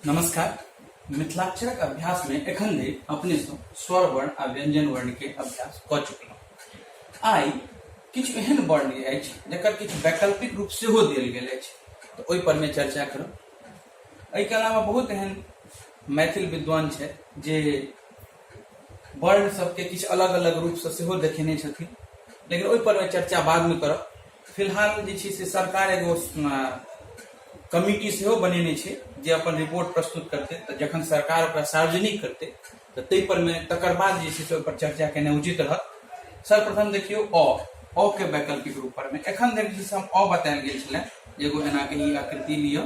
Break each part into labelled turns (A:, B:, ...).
A: नमस्कार मिथिलाक्षरक अभ्यास में एखन धरि अपने से स्वर वर्ण आ व्यंजन वर्ण के अभ्यास क चुकलहुँ आइ किछु एहन वर्ण अछि जकर किछु वैकल्पिक रूप से हो दिल गेल अछि तऽ ओहि पर में चर्चा करू एहिके अलावा बहुत एहन मैथिल विद्वान छथि जे वर्ण सबके किछु अलग अलग रूपसँ सेहो देखेने छथिन लेकिन ओहि पर चर्चा बादमे करब फिलहाल जे छै से सरकार एगो कमिटी सेहो बनेने छै जे अपन रिपोर्ट प्रस्तुत करतै तऽ जखन सरकार ओकरा सार्वजनिक करतै तऽ ताहि परमे तकर बाद जे छै से ओहिपर चर्चा केनाइ उचित रहत सर्वप्रथम देखियौ अ अ के वैकल्पिक रूप पर में एखन धरि जे हम अ बतायल गेल छलै एगो एनाके ई आकृति लिअ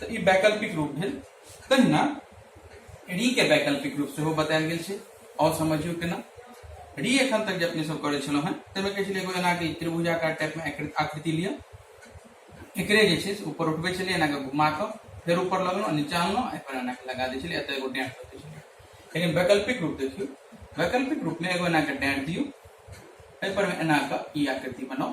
A: तऽ ई वैकल्पिक रूप भेल तहिना री के वैकल्पिक रूप सेहो बतायल गेल छै आओर समझियौ केना री एखन तक जे अपने सब करै छलहुँ हेँ ताहिमे कहै छलै एगो एनाके त्रिभुजाकार टाइपमे आकृ- आकृति लिअ एकरे जे छै से ऊपर उठबै छलियै एनाके घुमा कऽ फेर ऊपर लगलहुँ नीचा अनलहुँ एहिपर एनाके लगा दै छलियै एतऽ एगो डेंट कऽ दै छलियै लेकिन वैकल्पिक रूप देखियौ वैकल्पिक रूपमे एगो एनाके डेंट दियौ एहिपर एनाके ई आकृति बनाउ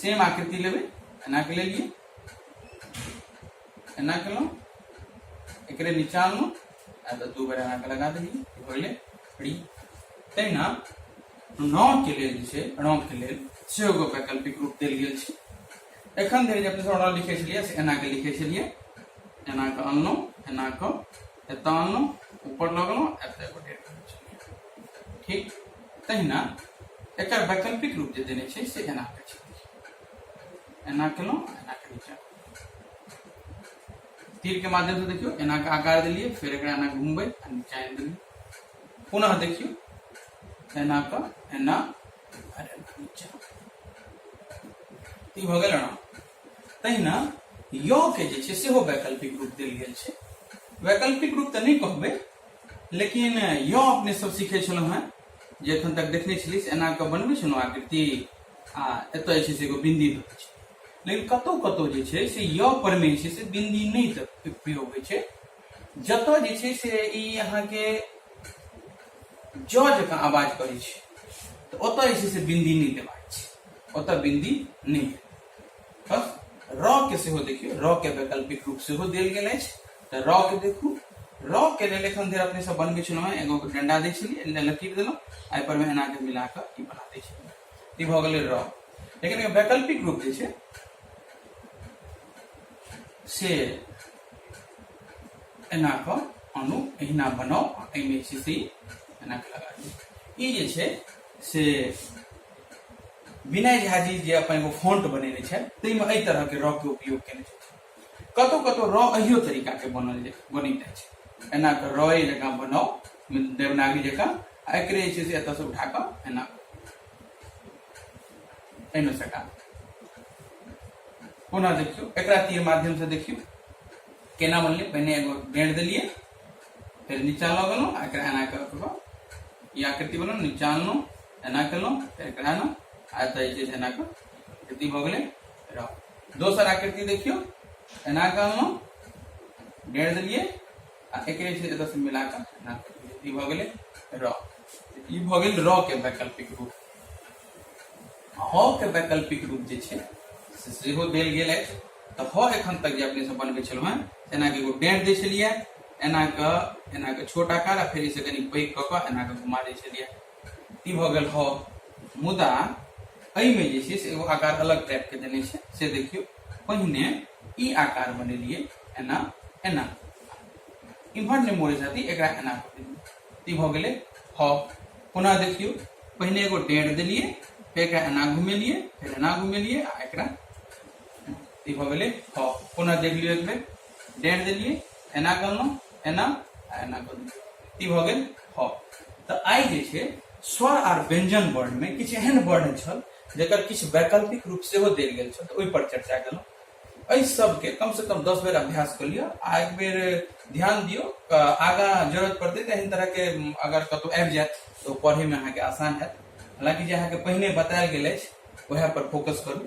A: सेम आकृति लेबै एनाके लेलियै एना केलहुँ एकरे नीचा अनलहुँ आ तऽ दू बेर एनाके लगा देलियै पहिले फ्री तहिना रौके लेल जे छै रौके लेल सेहो एगो वैकल्पिक रूप देल गेल छै एखन धरि जे अपने सब रौ लिखै छलियै से एनाके लिखै छलियै एनाके अनलहुँ एनाके एतऽ अनलहुँ ऊपर लगलहुँ एतऽ एगो डेट ठीक तहिना एकर वैकल्पिक रूप जे देने छै से एना के छै एना केलहुँ एना के नीचा तीर के माध्यम से देखियो एना के आकार दिलिए फिर एक एना घूमबे आ नीचा आनि देलिए पुनः देखियो एना के एना और एना नीचा ई भऽ गेल एना तहिना य के जे छै सेहो वैकल्पिक रूप देल गेल छै वैकल्पिक रूप तऽ नहि कहबै लेकिन यो अपने सब सीखे छलहुँ हैं जे एखन तक देखने छलियै से एना कऽ बनबै छलहुँ आकृति आ एतऽ जे छै से एगो बिन्दी दऽ दै छै लेकिन कतहु कतहु जे छै से य परमे जे छै से बिन्दी नहि तऽ प्रयोग होइ छै जतऽ जे छै से ई अहाँके ज जकाँ आवाज करै छै तऽ ओतऽ जे छै से बिन्दी नहि देबाक छै ओतऽ बिन्दी नहि बस र के सेहो देखियौ र के वैकल्पिक रूप सेहो देल गेल अछि तऽ रॉ के देखू रॉ के लेल एखन धरि अपने सब बनबै छलहुँ हेँ एगो डंडा दै छलियै एना लकीर देलहुँ आ एहिपर मे एना के मिला कऽ ई बना दै छलियै ई भऽ गेलै रॉ लेकिन एकर वैकल्पिक रूप जे छै से एना कऽ अणु एहिना बनाउ आ एहिमे जे छै से ई एना कऽ लगा दियौ ई जे छै से विनय झा जी जे अपन एगो फॉन्ट बनेने छथि ताहिमे एहि तरहके रॉ के उपयोग केने छथि कतौ कतौ रॉ अहियो तरीका के बनल जे बनी जाए छै एना के रॉ जकां बनाओ देवनागरी जकां आ एकरे जे छै से एतऽ से उठा कऽ एना एहिमे सटा पुनः देखियो एक तीर माध्यम से देखियो केना बनलै पहिने एगो डेढ़ दिलिए फिर नीचा लऽ गेलहुँ आ एकरा एना कऽ कऽ ई आकृति बनल नीचा अनलहुँ एना केलहुँ फेर एकरा एना आ एतऽ जे छै से एना कऽ आकृति भऽ गेलै रॉ दोसर आकृति देखियो एना के हम गेड़ दिलिए आ एक एतऽ से मिला के एना ई भ गेलै र ई भ गेल र के वैकल्पिक रूप ह के वैकल्पिक रूप जे छै से सेहो देल गेल अछि तऽ ह एखन तक जे अपने सब बनबै छलहुँ हेँ एना के एगो डेढ़ दै छलियै एना के एना के छोट आकार आ फेर इसे कनी पैघ कऽ कऽ एना के घुमा दै छलियै ई भऽ गेल हॉ मुदा एहिमे जे छै से एगो आकार अलग टाइपके देने छै से देखियौ पहिने ई आकार बनेलियै एना एना इम्हर नहि मोड़े जाती एकरा एना ई भऽ गेलै हॉ पुनः देखियौ पहिने एगो डेढ़ देलियै फेर एकरा एना घुमेलियै फेर एना घुमेलियै आ एकरा ई भऽ गेलै हॉ पुनः देख लियौ एक बेर डेढ़ दिलिए एना करल एना एना करल ई भ गेल ह तो आई जे छे स्वर आर व्यंजन वर्ण में किछ एहन वर्ण छल जकर किछ वैकल्पिक रूप से हो देल गेल छल तो ओहि पर चर्चा केलहुँ एहि सबके कम से कम दस बेर अभ्यास कर लियो आ एक बेर ध्यान दियो आगा जरूरत पड़ते तो एहन तरह के अगर कतौ आबि जायत तो पढ़े में अहाँ के आसान है हालांकि जे अहाँ के पहिने बतायल गेल अछि वह पर फोकस करू